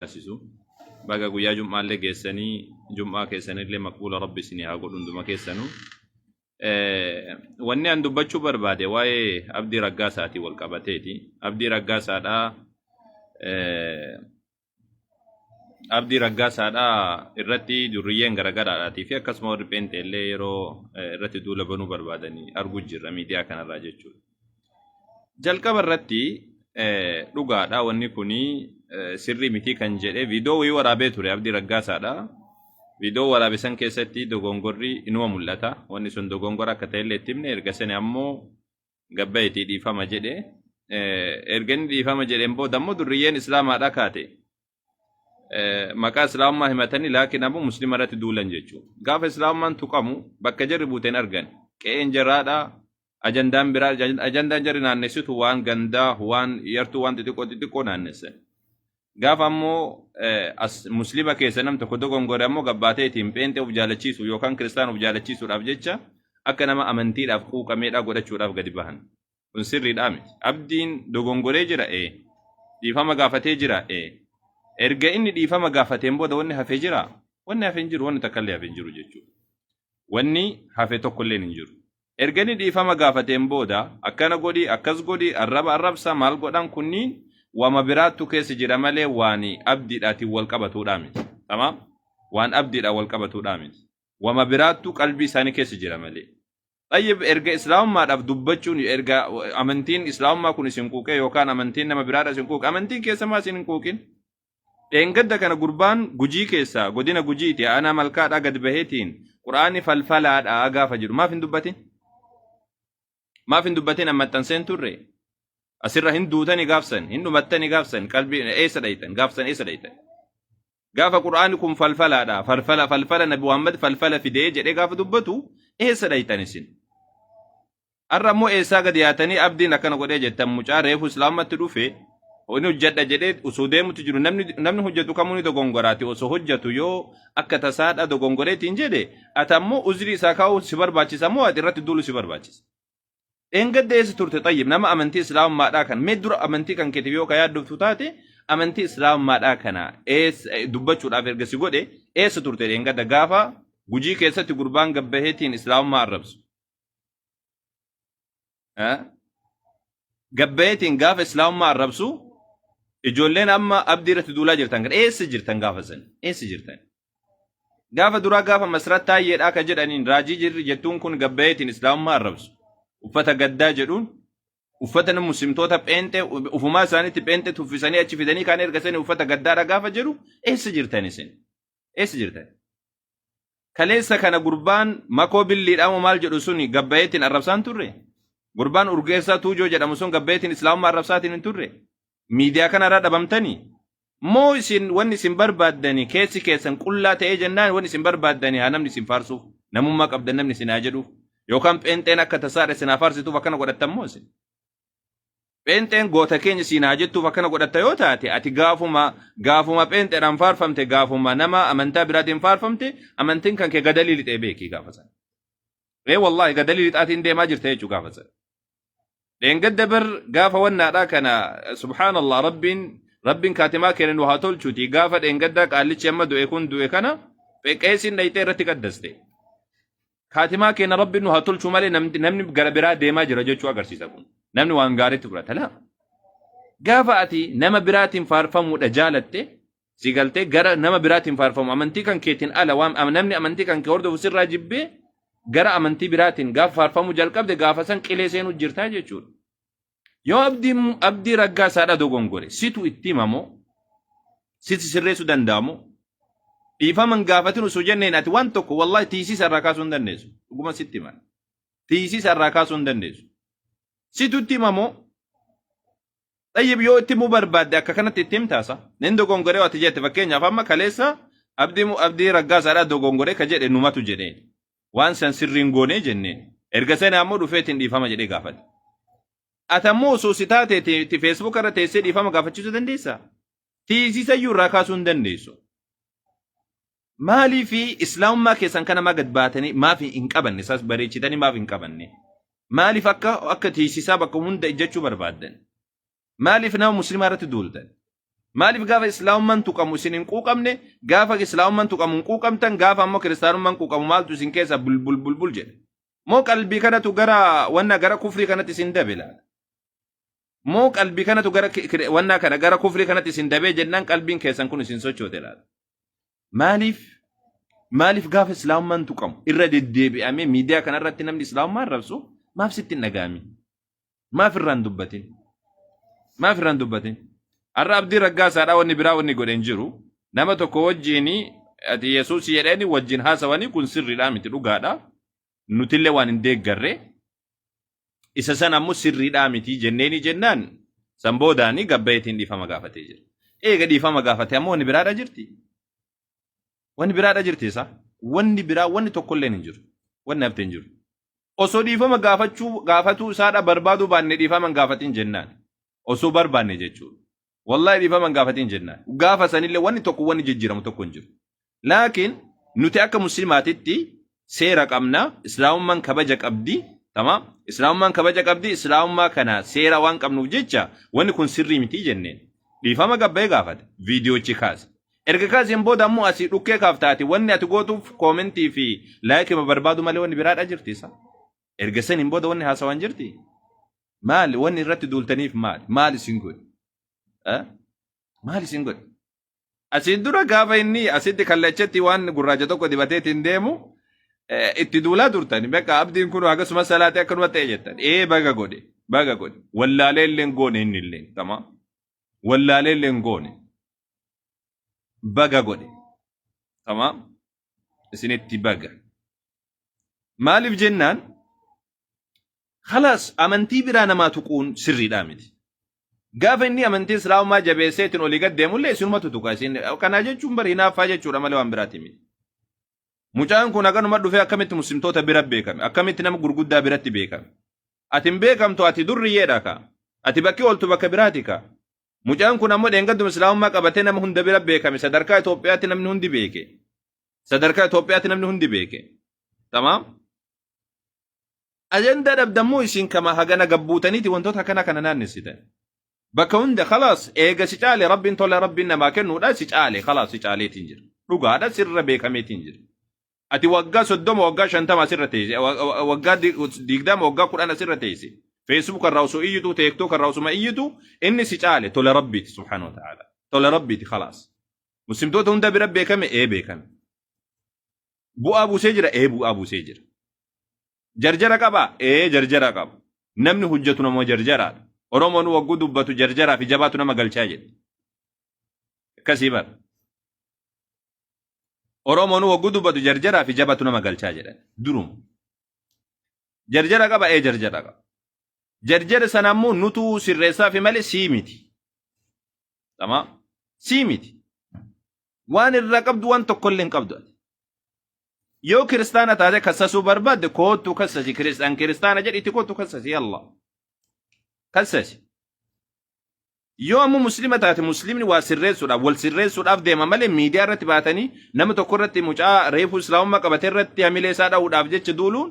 taasisu. Baga guyyaa jum'aallee geessanii jum'aa keessanillee maqbuula rabbi isinii haa godhu hunduma keessanu. Wanni an dubbachuu barbaade waa'ee abdii raggaasaatiin wal qabateeti. Abdii raggaasaadhaa abdii raggaasaadhaa irratti durriyyeen garagaraadhaatii fi akkasuma warri pheenxeellee yeroo irratti duula banuu barbaadanii arguu jirra miidiyaa kanarraa jechuudha. Jalqaba irratti dhugaadha wanni kuni sirrii miti kan jedhe viidiyoo wayii waraabee ture Abdii Raggaasaadha. Viidiyoo waraabe san keessatti dogongorri inuma mul'ata. Wanni sun dogongora akka ta'ellee itti himne erga sani ammoo gabbayeetii dhiifama jedhe. Erga inni dhiifama jedheen booda ammoo durriyyeen islaamaadha kaate. maqaa islaamummaa himatanii laakiin ammoo muslima irratti duulan jechuudha. Gaafa islaamummaan tuqamu bakka jarri buute hin argan. Qe'een jaraadha. Ajandaan biraa ajandaan jarri naannessitu waan gandaa waan yartuu waan xixiqqoo xixiqqoo naannessan. Gaafa ammoo muslima keessa nam tokko dogongore ammoo gabbaatee ittiin pheenxee of jaalachiisu yookaan kiristaan of jaalachiisuudhaaf jecha akka nama amantiidhaaf quuqameedhaa godhachuudhaaf gadi bahan. kun sirriidhaa miti. Abdiin dogongoree jira ee. Dhiifama gaafatee jira ee. Erga inni dhiifama gaafateen booda wanni hafe jira. Wanni hafe hin jiru wanni takka illee hafe hin jiru jechuudha. Wanni hafe tokko illee hin jiru. Erga inni dhiifama gaafateen booda akkana godhi akkas godhi arraba arrabsa maal godhan kunniin wama biraattu keessa jira malee waan abdiidhaatiin wal qabatuudhaa miti. Tamaam waan abdiidhaan wal qabatuudhaa miti. Wama biraattu qalbii isaanii keessa jira malee. Xayyib erga islaamummaadhaaf dubbachuun erga amantiin islaamummaa kun isin quuqee yookaan amantiin nama biraadha isin quuqe amantiin keessa maa isin hin quuqin. Dheengadda kana gurbaan gujii keessaa godina gujiiti aanaa malkaadhaa gad baheetiin quraanni falfalaadhaa gaafa jedhu maaf hin dubbatin? Maaf hin dubbatin amma maxxanseen turre? Asirra hin duutani gaafsan hin dhumattani gaafsan qalbii eessa dhayxan gaafsan eessa dhayxan? Gaafa Qur'aanni kun falfalaadha. Falfala falfala Nabi Muhammad falfala fidee jedhee gaafa dubbatu eessa dhayxan isin? Har'a ammoo eessaa gadi yaatanii abdiin akkana godhee jettan mucaa reefu islaamatti dhufe inni hojjedha jedhee osoo deemutti jiru namni namni hojjetu kamuu ni dogongoraati osoo hojjetu yoo akka tasaadha dogongoreetiin jedhe ati ammoo uzrii isaa kaa'uu si barbaachisa moo ati irratti duulu si barbaachisa. Dheengadda eessa turte xayyib nama amantii islaamummaadhaa kan mee dura amantii kan keetiif yoo ka yaaddoftu taate amantii islaamummaadhaa kana eessa eh, dubbachuudhaaf erga si godhe eessa turte dheengadda gaafa gujii keessatti gurbaan gabbaheetiin islaamummaa arrabsu. Eh? Gabbaheetiin gaafa islaamummaa arrabsu ijoolleen amma abdii irratti duulaa jirtan kan eessa jirtan gaafa san eessa jirtan Gaafa duraa gaafa Masrat Taayyeedhaa ka jedhaniin raajii jirri jettuun kun gabbayeetiin Islaamummaa arrabsu. Uffata gaddaa jedhuun uffata nama muslimtoota pheenxee ufumaa isaaniitti pheenxee tuffisanii achi fidanii kaan erga sanii uffata gaddaadha gaafa jedhu eessa jirtan isin? Eessa jirtan? Kaleessa kana gurbaan makoo billiidhaamo maal jedhu suni gabbayeetiin arrabsaan turre? Gurbaan urgeessaa tuujoo jedhamu sun gabbayeetiin Islaamummaa arrabsaatiin hin turre? miidiyaa kanarraa dhabamtanii moo isin wanni isin barbaaddanii keessi keessan qullaa ta'ee jennaan wanni isin barbaaddanii haa namni isin faarsuuf namummaa qabdan namni isin haa jedhuuf yookaan pheenxeen akka tasaadha isin haa faarsituuf akkana godhattan moo isin pheenxeen goota keenya isin haa jettuuf akkana godhatta yoo taate ati gaafuma gaafuma pheenxeedhaan faarfamte gaafuma nama amantaa biraatiin faarfamte amantiin kan kee gadalii lixee beekii gaafa sana. Ee wallaahi gadalii lixaatiin deemaa jirta jechuu gaafa sana. dheengadda bar gaafa wannaadhaa kana subhaanallah rabbiin rabbiin kaatimaa keenya nu haa tolchuuti gaafa dheengaddaa qaallichi amma du'e kun du'e kana qeesiin dhayxee irratti qaddaste kaatimaa keenya rabbiin nu haa tolchuu malee namni namni gara biraa deemaa jira jechuu agarsiisa kun namni waan gaariitti fudhata laa gaafa ati nama biraatiin faarfamuudha jaalatte si galtee gara nama biraatiin faarfamu amantii kan keetiin ala waan am- namni amantii kan kee hordofu sirraa jibbee gara amantii biraatiin gaafa faarfamuu jalqabde gaafa san qilee seenuu jirtaa jechuudha. Yoo abdii abdii raggaa saadha dogongore situ itti himamoo siti sirreessuu danda'amoo dhiifaman gaafatin osoo jenneen ati waan tokko wallahi tiisiisa irraa kaasuu hin dandeessu dhuguma sitti himan tiisiisa irraa kaasuu hin dandeessu situ itti himamoo Xayyib yoo itti himuu barbaadde akka kanatti itti himtaasa. Nin dogongoree ati jette fakkeenyaaf amma kaleessa abdii abdii raggaasaadhaa dogongoree ka jedhe numatu jedhee. Waan san sirriin goonee jennee. Erga sana ammoo dhufeetiin dhiifama jedhee gaafate. Ati ammoo osoo si taate itti feesbuuka irra teessee dhiifama gaafachiisuu dandeessaa? Tiisisayyuu irraa kaasuu hin dandeessu. Maalii fi islaamummaa keessan kana maa gad baatanii maaf hin qabanne isaas bareechitanii maaf hin qabanne maaliif akka akka tiisisaa bakka hunda ijjachuu barbaaddan maaliif nama muslimaa irratti duultan maaliif gaafa islaamummaan tuqamu isin hin quuqamne gaafa islaamummaan tuqamu hin quuqamtan gaafa ammoo kiristaanummaan quuqamu maaltu isin keessa bulbul bulbul jedhe moo qalbii kanatu gara wanna gara kufrii kanatti isin dabe laata moo qalbii kanatu gara ki- kire- wanna kana gara kufrii kanatti isin dabee jennaan qalbiin keessan kun isin sochoote laata Maaliif maaliif gaafa islaamummaan tuqamu irra deddeebi'amee miidiyaa kanarratti namni islaamummaa arrabsu maaf sitti hin dhaga'amin? Maaf irraan dubbatin? Maaf irraan dubbatin? Har'a abdii raggaasaadhaa wanni biraa wanni godhe hin jiru. Nama tokko wajjiin ati Yesuus jedhanii wajjin haasawanii kun sirriidhaa miti dhugaadhaa. nutillee waan hin deeggarre isa san ammoo sirriidhaa miti jenneeni jennaan san boodaani gabbayeetiin dhiifama gaafatee jira. Eega dhiifama gaafate ammoo wanni biraadha jirti. Wanni biraadha jirti isaa. Wanni biraa wanni tokkolleen hin jiru. Wanni hafte hin jiru. Osoo dhiifama gaafachuu gaafatuu isaadha barbaaduu baanne dhiifama hin gaafatin jennaan. osoo barbaanne jechuudha. Wallahi dhiifama hin gaafatin jennaan. Gaafa sanillee wanni tokko wanni jijjiiramu tokko hin jiru. Laakiin nuti akka muslimaatitti seera qabna, islaamummaan kabaja qabdi, tamaam. Islaamummaan kabaja qabdi, islaamummaa kana seera waan qabnuuf jecha wanni kun sirrii miti jenneen. Dhiifama gabbee gaafate, viidiyoochi kaase. Erga kaaseen booda ammoo asii dhukkee kaaftaati wanni ati gootuuf koomentii fi laayikima barbaadu malee wanni biraadha jirti isaa. Erga saniin booda wanni haasawaan jirti? Maali wanni irratti duultaniif maali? Maal isin godhe? Eh? Maal isin godhe? Asiin dura gaafa inni asitti kallachatti waan gurraacha tokko dibateetiin deemu eh, itti duulaa turtan. Bakka abdiin kun akkasuma salaatee akkanuma ta'e jettan. Ee baga godhe, baga godhe. Wallaalee illee hin goone inni illee. Tamaa. Wallaalee illee hin goone. Baga godhe. Tamaa. Isinitti baga. Maaliif jennaan khalaas amantii biraa namaa tuquun sirriidhaa miti. Gaafa inni amantii islaamaa jabeessee ittiin olii gad deemullee isinumatu tuqa isin kanaa jechuun bari hinaaffaa jechuudha malee waan biraati miti. Mucaan kun haganuma dhufee akkamitti muslimtoota bira beekame akkamitti nama gurguddaa biratti beekame. Ati hin beekamtu ati durriyyeedha kaa. Ati bakki ooltu bakka biraati kaa. Mucaan kun ammoo dheengadduma islaamummaa qabatee nama hunda bira beekame sadarkaa Itoophiyaatti namni hundi beeke. Sadarkaa Itoophiyaatti namni hundi beeke. Tamaam. Ajandaa dhabdammoo isin kama hagana gabbuutaniiti wantoota akkana kana naannessitan. Bakka hunda khalaas eega si caale rabbiin tola rabbiin namaa kennuudha si caale khalaas si caaleetiin jira. Dhugaadha sirra beekameetiin jira. Ati waggaa soddoma waggaa shantama asirra teesse wa- wa- waggaa di- digdama waggaa kudhan asirra teesse. Feesbuuk irraa osoo iyyitu teektook irraa osuma iyyitu inni si caale tola rabbiiti subhaanahu wa ta'aala. Tola rabbiiti khalaas. Muslimtoota hunda bira beekame ee beekame. Bu'aa buusee jira ee bu'aa buusee jira. Jarjara qaba ee jarjara qaba. Namni hojjetu nama jarjaraadha. Oromoon wagguu dubbatu jarjaraa fi jabaatu nama galchaa jedhe. Akkasii bara. Oromoon wagguu dubbatu jarjaraa fi jabaatu nama galchaa jedhan. Duruma. Jarjara qaba ee jarjara qaba. Jarjara sana ammoo nutu sirreessaa fi malee sii miti. Dhamaa. Sii miti. Waan irraa qabdu waan tokkollee hin qabdu. ati. Yoo kiristaana taate kassasuu barbaadde koottu kassasi kiristaan kiristaana jedhi itti koottu kassasi Allah. Kassasi. Yoo ammoo muslima taate muslimni waa sirreessuudhaaf wal sirreessuudhaaf deema malee miidiyaa irratti baatanii nama tokko irratti mucaa reefuu islaamummaa qabate irratti hamilee isaa dha'uudhaaf jecha duuluun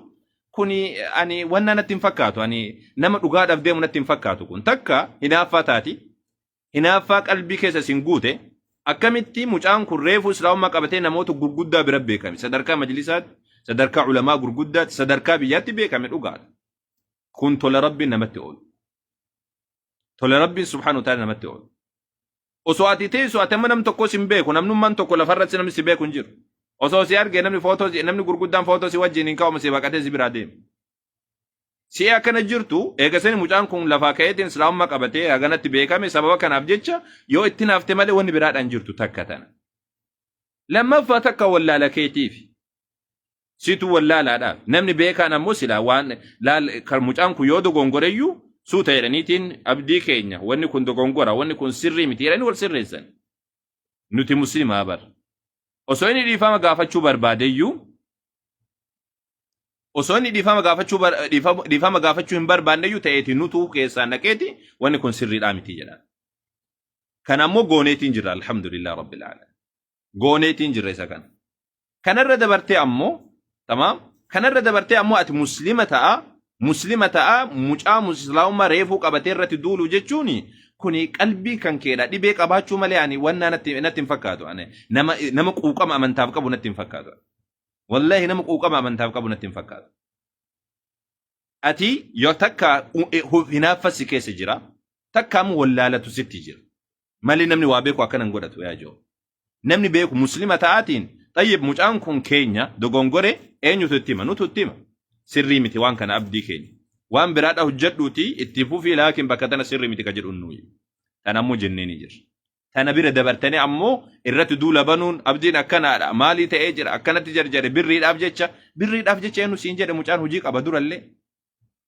kuni ani wanna natti hin fakkaatu ani nama dhugaadhaaf deemu natti hin fakkaatu kun takka hinaaffaa taati hinaaffaa qalbii keessa isin guute akkamitti mucaan kun reefuu islaamummaa qabatee namoota gurguddaa bira beekame sadarkaa majlisaatti sadarkaa ulamaa gurguddaatti sadarkaa biyyaatti beekame dhugaadha kun tola rabbiin namatti oolu tola rabbiin subhaanahu wa ta'ala namatti oolu Osoo ati teessu ati amma nam tokko sin beeku namnummaan tokko lafarratti namni si beeku hin jiru. Osoo si arge namni footoo si- namni gurguddaan footoo si wajjin hin ka'amu si baqatee si biraa deema. Si'i akkana jirtu eega sani mucaan kun lafaa ka'eetiin islaamummaa qabatee haganatti beekame sababa kanaaf jecha yoo itti naafte malee wanni biraadhaan jirtu takka tana. Lammaffaa takka wallaala keetiif. Situ wallaalaadha. Namni beekaan ammoo silaa waan laal kan mucaan kun yoo dogongoreyyuu suuta jedhaniitiin abdii keenya wanni kun dogongora wanni kun sirrii miti jedhanii wal sirreessan. Nuti muslimaa bar. Osoo inni dhiifama gaafachuu barbaadeyyuu osoo inni dhiifama gaafachuu bar- dhiifama dhiifama gaafachuu hin barbaanneyyuu ta'eeti nutuu keessaan dhaqeeti wanni kun sirriidhaa miti jedha. Kan ammoo gooneetiin jirra alhamdulillah rabbil alamin. gooneetiin jirra isa kana. Kanarra dabartee ammoo tamaam kanarra dabartee ammoo ati muslima ta'a muslima ta'a mucaa muslimaa reefuu qabatee irratti duulu jechuun kuni qalbii kan keedha dhibee qabaachuu malee ani wannaa natti natti hin fakkaatu ani nama nama quuqama amantaaf qabu natti hin fakkaatu. Wallahi nama quuqama amantaaf qabu natti hin fakkaatu. Ati yoo takka hinaaffasi keessa jira takka ammoo wallaalatu sitti jira. Mali namni waa beeku akkana hin godhatu yaa joo. Namni beeku muslima ta'aatiin xayyib mucaan kun keenya dogongore eenyutu itti hima nutu itti hima. Sirrii miti waan kana abdii keenya. Waan biraadha hojjedhuuti itti fufii laakiin bakka tana sirrii miti ka jedhu nuyi. Tana ammoo jennee ni jirra. Tana bira dabartanii ammoo irratti duula banuun abdiin akkanaadha maalii ta'ee jira akkanatti jarjare birriidhaaf jecha birriidhaaf jecha eenyu siin jedhe mucaan hojii qaba durallee.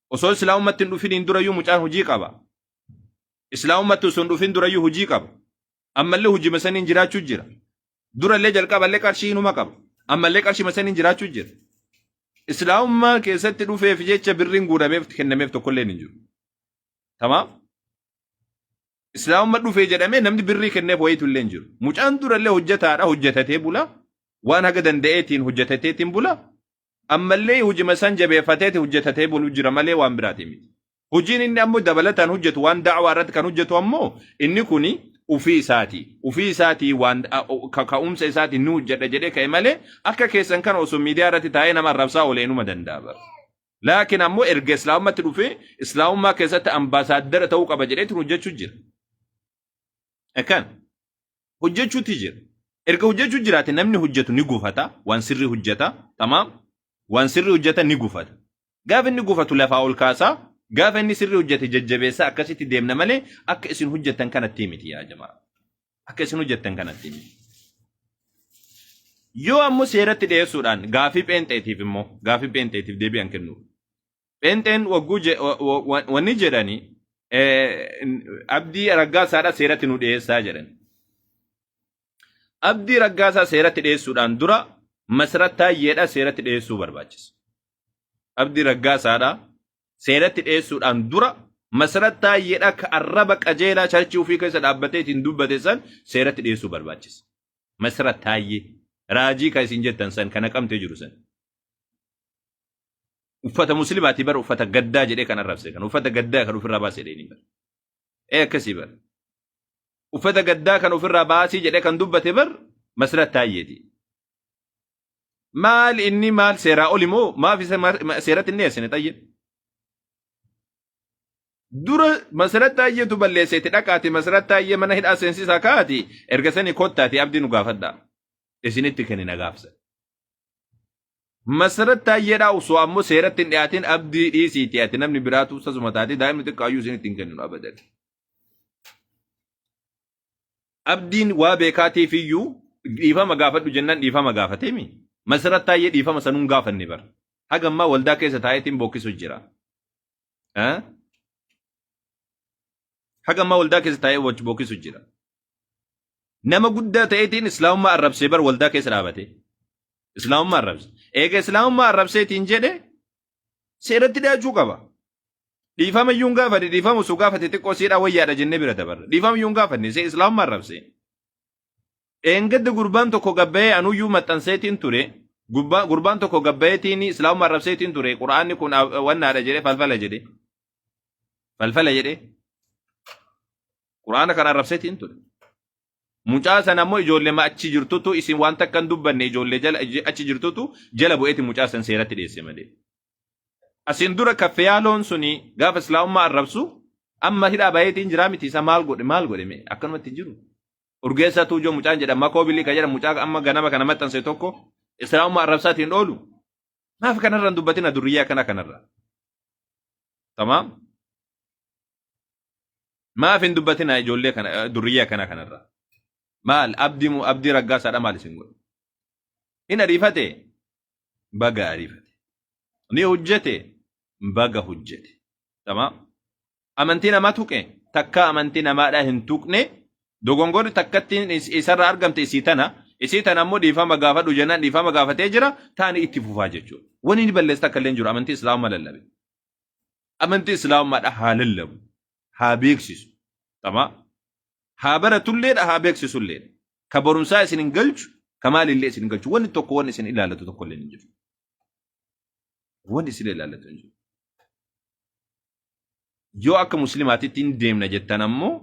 Osoo islaamumatti hin dhufiniin durayyuu mucaan hojii qaba. Islaamummaatti osoo hin dhufin durayyuu hojii qaba. Ammallee hojima saniin jiraachuu jira. Durallee jalqaballee qarshii inuma qaba. Ammallee qarshima saniin jiraachuu jira. Islaamummaa keessatti dhufeef jecha birriin guurameef kennameef tokkollee hin jiru. Tamaam? Islaamumma dhufee jedhamee namni birrii kenneef wayiitu illee hin jiru. Mucaan durallee hojjetaadha hojjetatee bula. Waan haga danda'eetiin hojjetateetiin bula. Ammallee hojima san jabeeffateeti hojjetatee bulu jira malee waan biraatiin miti. Hojiin inni ammoo dabalataan hojjetu waan da'waa irratti kan hojjetu ammoo inni kuni ufii isaati. Ufii isaati waan a- o- ka- ka'umsa isaati ni hojjedha jedhee ka'e malee akka keessan kana osoo miidiyaa irratti taa'ee nama arrabsaa olee numa danda'a bara. Laakiin ammoo erga islaamummaatti dhufee islaamummaa keessatti ambaasaaddara ta'uu qaba jedheetiin hojjechuu jira. Akkan hojjechuutti jira. Erga hojjechuu jiraate namni hojjetu ni gufata, waan sirrii hojjeta, tamaam, waan sirrii hojjeta ni gufata. Gaafa inni gufatu lafaa ol kaasaa, gaafa inni sirrii hojjete jajjabeessaa akkasitti deemna malee akka isin hojjettan kanatti miti yaa jamaa. Akka isin hojjettan kanatti miti. Yoo ammoo seeratti dhiyeessuudhaan gaafii pheenxeetiif immoo gaafii pheenxeetiif deebi'an kennuuf. Pheenxeen wagguu je- wa- wa- wa- wanni jedhani eh, n- abdii raggaasaadha seeratti nu dhiyeessaa jedhan. Abdii raggaasaa seeratti dhiyeessuudhaan dura masrat taayyeedha seeratti dhiyeessuu barbaachisa. Abdii raggaasaadha seeratti dhiyeessuudhaan dura masrat taayyeedha ka arraba qajeelaa charchii ofii keessa dhaabbatee ittiin dubbate san seeratti dhiyeessuu barbaachisa. Masrat taayyee raajii kan isin jettan san kana qabtee jiru san. uffata muslimaati bara uffata gaddaa jedhee kan arrabse kan uffata gaddaa kan ofirraa baase jedhee ni bara ee akkasii bara uffata gaddaa kan ofirraa baasii jedhee kan dubbate bar masrat taayyeeti maal inni maal seeraa oli moo maaf isa ma- ma- seeratti inni dhiyeessine tayyee dura masrat taayyeetu balleesseeti dhaqaati masrat taayyee mana hidhaa seensisaa kaati erga sanii kottaati abdii nu gaafadhaa isinitti kennina gaafsa Masarat Taayyeedhaa osoo ammoo seeratti hin dhiyaatin abdii dhiisiiti ati namni biraatu sasuma taate daa'imni xiqqaayyuu isinitti hin kenninu abadan. Abdiin waa beekaatiif iyyuu dhiifama gaafadhu jennaan dhiifama gaafateemi. Masarat Taayyee dhiifama sanuun gaafanne bara. Haga ammaa waldaa keessa taa'eetiin bookkisuu jira. Eh? Haga ammaa waldaa keessa taa'ee bookkisuu jira. Nama guddaa ta'eetiin islaamummaa arrabsee bar waldaa keessa dhaabatee. Islaamummaa arrabse. Eega islaamummaa arrabseetiin jedhe seeratti dhiyaachuu qaba. Dhiifama iyyuu hin gaafate dhiifama osoo gaafate xiqqoo siidhaa wayyaadha jennee bira dabarra. Dhiifama iyyuu hin gaafanne see islaamummaa arrabse. Dheengadda gurbaan tokko gabbayee anuyyuu maxxanseetiin ture. Gurbaa- Gurbaan tokko gabbayeetiin islaamummaa arrabseetiin ture. Qura'aanni kun a- wannaadha jedhee falfala jedhee. Falfala jedhee. Quraana kana arrabseeti hin ture. Mucaa sana ammoo ijoollee achi jirtutu isin waan takka hin dubbanne ijoollee jala achi jirtutu jala bu'eeti mucaa san seeratti dhiyeesse malee. Asin dura kaffeyaaloon suni gaafa islaamummaa arrabsu amma hidhaa bayeetiin jiraa miti isa maal godhe maal godhe mee akkanumatti hin jiru. Urgeessaa tuujoo mucaan jedha makoo bilii kan jedha mucaa amma ganama kana maxxanse tokko islaamummaa arrabsaatiin hin oolu. Maaf kanarra hin dubbatina durriyyaa kana kanarra. Tamaam. Maaf hin dubbatinaa ijoollee kana eh, durriyyee akkana kanarraa. Maal abdii mu- abdii raggaasaadha maal isin godhe? Hin ariifate baga ariifate. Ni hojjete baga hojjete. Tamaa amantii namaa tuqe takka amantii namaadhaa hin tuqne dogongorri takkattiin is- isarra argamte isii tana isii tana ammoo dhiifama gaafadhu jennaan dhiifama gaafatee jira taani itti fufaa jechuudha. Wani ni balleessa takka illee hin jiru amantii islaamummaa lallabe. amantii islaamummaadha haa lallabu haa beeksisu tamaa haa baratulleedha haa beeksisulleedha ka barumsaa isin hin galchu ka maalillee isin hin galchu wanni tokko wanni isin ilaallatu tokko illee hin jiru wanni isin ilaallatu hin jiru yoo akka muslimaatitti hin deemna jettan ammoo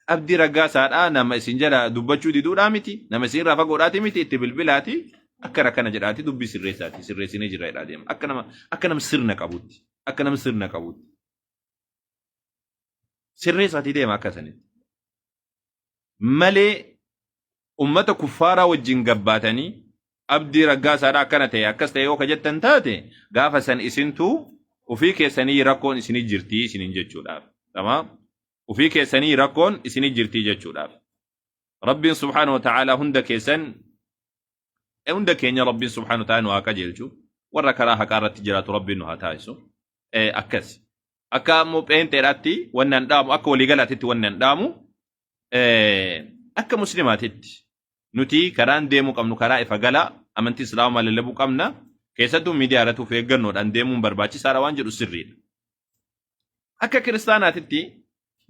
Abdii Raggaasaadhaa nama isin jala dubbachuu diduudhaa miti. Nama isin irraa fagoodhaati miti itti bilbilaati. Akka rakkana jedhaati dubbii sirreessaati. Sirreessinee jirra jedhaa deema. Akka nama akka nama sirna qabutti. Akka nama sirna qabutti. Sirreessaati deema akka sanitti. Malee ummata kuffaaraa wajjin gabbaatanii abdii raggaasaadhaa akkana ta'e akkas ta'e yoo ka jettan taate gaafa san isintu ofii keessanii rakkoon isinii jirti isiniin jechuudhaaf. Tamaam. ufii keessanii rakkoon isini jirtii jechuudhaaf rabbiin subhaanahu wa ta'aalaa hunda keessan eh, hunda keenya rabbiin subhaanahu wa ta'aalaa nu haa qajeelchu warra karaa haqaa irratti jiraatu rabbiin nu haa taasisu Eh, akkas akka ammoo pheenxeedhaatti wanni an dhaamu akka waliigalaatitti wanni an dhaamu eh, akka muslimaatitti nuti karaan deemuu qabnu karaa ifa galaa amantii islaamaa lallabuu qabna keessattuu miidiyaa irratti of eeggannoodhaan deemuun barbaachisaadha waan jedhu sirriidha. Akka kiristaanaatitti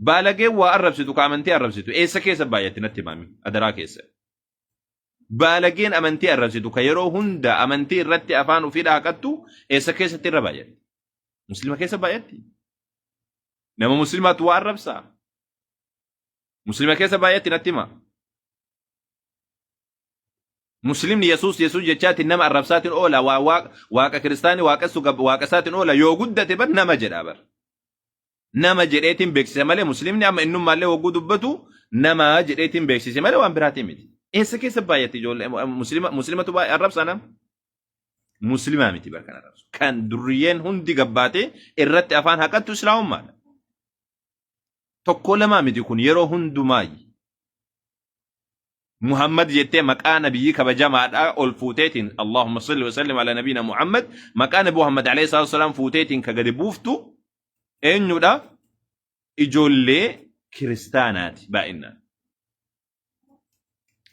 baalageen waa arrabsitu ka amantii arrabsitu eessa keessa baay'atti natti himaami adaraa keessa. Baalageen amantii arrabsitu ka yeroo hunda amantii irratti afaan ofii dhaaqattu eessa keessatti irra baay'atti? Muslima keessa baay'atti? Nama muslimaatu waa arrabsaa? Muslima keessa baay'atti natti himaa? Muslimni Yesuus Yesuus jechaatiin nama arrabsaatiin oola, waa- waa- waaqa kiristaanii waaqessu gab- waaqa isaatiin oola, yoo guddate bar nama jedha bar. Nama jedheetiin beeksise malee Muslimni amma innummaallee hogguu dubbatu nama jedheetiin beeksise malee waan biraatiin miti. Eessa keessa baay'atti ijoollee Muslima Muslimatu baay'ee arrabsa nama. Muslimaa miti bar kan arrabsu. Kan durriyyeen hundi gabbaatee irratti afaan haqattu Islaamummaadha. Tokkoo lamaa miti kun yeroo hundumaayyi. Muhammad jettee maqaa nabiyyii kabajamaadhaa ol fuuteetiin Allahumma salli wa sallim ala nabiina Muhammad maqaa nabi Muhammad alayhi salaatu wasalaam fuuteetiin ka gadi buuftu eenyudha ijoollee kiristaanaati baay'inaan.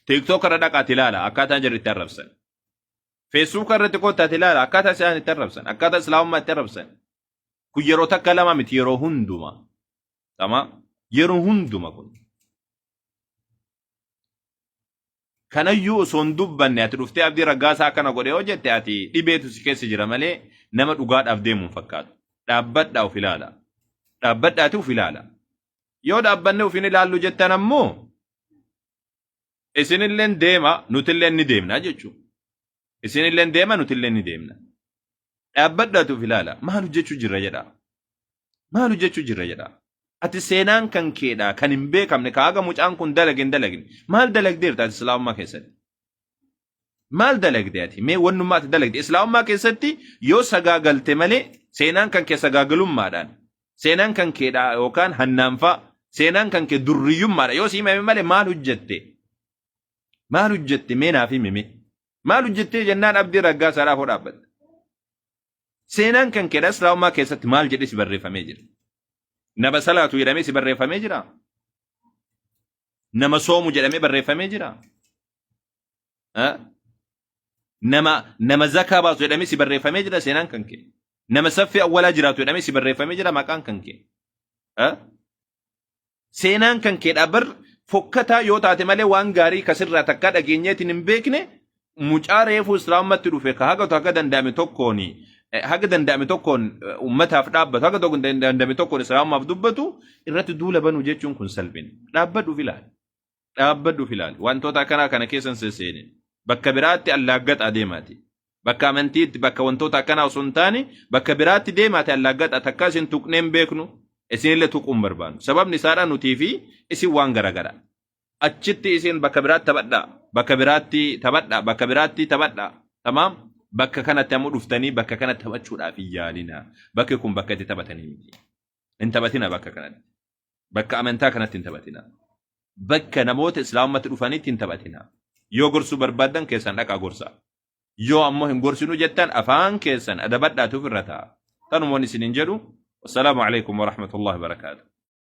TikTok irra dhaqaati ilaala akkaataa jarri itti arrabsan. Facebook irratti koottaati ilaala akkaataa isaan itti arrabsan akkaataa islaamummaa itti arrabsan. Kun yeroo takka lama miti yeroo hunduma. Tama yeroo hunduma kun. Kanayyuu osoo hin dubbanne ati dhuftee abdii raggaasaa akkana godhe yoo jette ati dhibeetu si keessa jira malee nama dhugaadhaaf deemu hin fakkaatu. Dhaabbadhaa of ilaala. Dhaabbadhaati of ilaala. Yoo dhaabbanne of hin ilaallu jettan ammoo isinilleen deema nutilleen ni deemna jechuudha. Isinilleen deema nutilleen ni deemna. Dhaabbadhaati of ilaala. Maal hojjechuu jirra jedhaa. maal hojjechuu jirra jedha. Ati seenaan kan keedha kan hin beekamne ka haga mucaan kun dalage hin dalagne. Maal dalagdeerta ati islaamummaa keessatti? Maal dalagde ati? Mee wannummaa ati dalagde islaamummaa keessatti yoo sagaagalte malee seenaan kan kee sagaagalummaadhaan seenaan kan keedha yookaan hannaanfaa seenaan kan kee durriyyummaadha yoo si himame malee maal hojjette? Maal hojjette mee naaf himi mee? Maal hojjettee jennaan abdii raggaasaadhaaf hoo dhaabbatte? Seenaan kan keedha islaamummaa keessatti maal jedhee si barreeffamee jira? Nama salaatu jedhamee si barreeffamee jira? Nama soomu jedhamee barreeffamee jira? Ah? Nama nama zakaa baasu jedhamee si barreeffamee jira seenaan kan kee? Nama saffii awwalaa jiraatu jedhamee si barreeffamee jira maqaan kan kee? Ah? Seenaan kan keedhaa bar fokkataa yoo taate malee waan gaarii kasirraa takkaa dhageenyeetiin hin beekne mucaa reefuu islaamummaatti dhufe ka hagatu haga danda'ame tokkoon eh, haga danda'ame tokkoon eh, ummataaf dhaabbatu haga tokko danda'ame tokkoon islaamummaaf dubbatu irratti duula banuu jechuun kun salphina. Dhaabbadhuuf ilaali. dhaabbadhu of ilaali wantoota akkanaa kana keessan sesseene bakka biraatti allaaggaxaa deemaati bakka amantiitti bakka wantoota akkanaa osoo hin taane bakka biraatti deemaati allaaggaxaa takka isin tuqneen beeknu isinillee tuquun barbaannu sababni isaadhaa nutii fi isin waan garagara achitti isin bakka biraatti taphadhaa bakka biraatti taphadhaa bakka biraatti taphadhaa tamaam bakka kanatti ammoo dhuftanii bakka kana taphachuudhaaf hin yaalinaa bakki kun bakka itti taphatanii miti hin taphatina bakka kanatti Bakka amantaa kanatti hin taphatina. Bakka namoota islaamummaatti dhufanitti hin taphatina. Yoo gorsuu barbaaddan keessan dhaqaa gorsaa. Yoo ammoo hin gorsinuu jettan afaan keessan adabadhaatu ofirra ta'a. Tanumoon isiniin jedhu. Wassalaamu alaikum warahmatullahi wabarakaatuh.